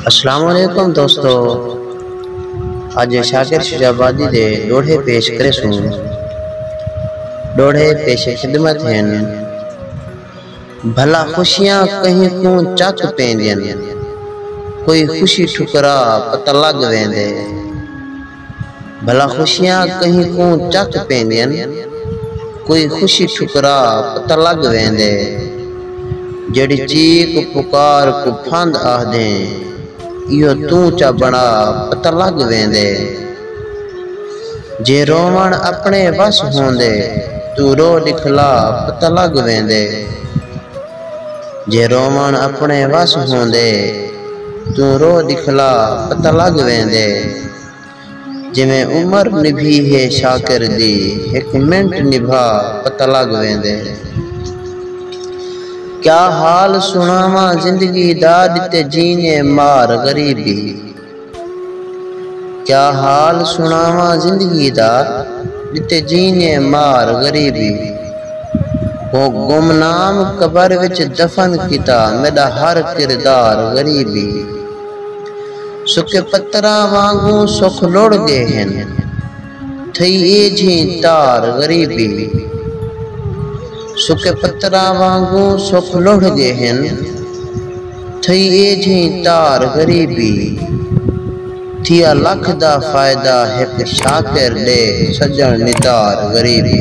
اسلام علیکم دوستو اج شاکر شجابادی دے ڈوڑھے پیش کرے سوں ڈوڑھے پیش خدمت ہیں بھلا خوشیاں کہیں کوں چک پیندین کوئی خوشی ٹھکرا پتہ لگ ویندے بھلا خوشیاں کہیں کوں چک پیندین کوئی خوشی ٹھکرا پتہ لگ ویندے جیڑھی چیک پکار کوں پھند آہدیں ایہو توں چا بنڑا پتہ لگ ویندے جے رووݨ اپنڑے وس ہوندے توں رو ڈکھلا پتہ لگ ویندے۔ جے رووݨ اپݨے وس ہوندے توں رو ݙکھلا پتہ لڳ ویندے جیویں عمر نبھی ہے شاکر دی ہک منٹ نبھا پتہ لڳ ویندے کیا حال سݨاواں زندگی دا ݙتے جینے مار غریبی۔ کیا حال سݨاواں زندگی دا ݙتے جینے مار غریبی ہو گمنام قبر وچ دفن کیتا میݙا ہر کردار غریبی سکے پتراں وانگوں سکھ لڑ ڳئے ہن۔ تھئی اے جھیں تار غریبی سکے پتراں وانگوں سکھ لڑھ گئے ہن تھئی اے جھیں تار غریبی تھیا لکھ دا فائدہ ہک شاکر ڈیکھ سجݨ نتار غریبی۔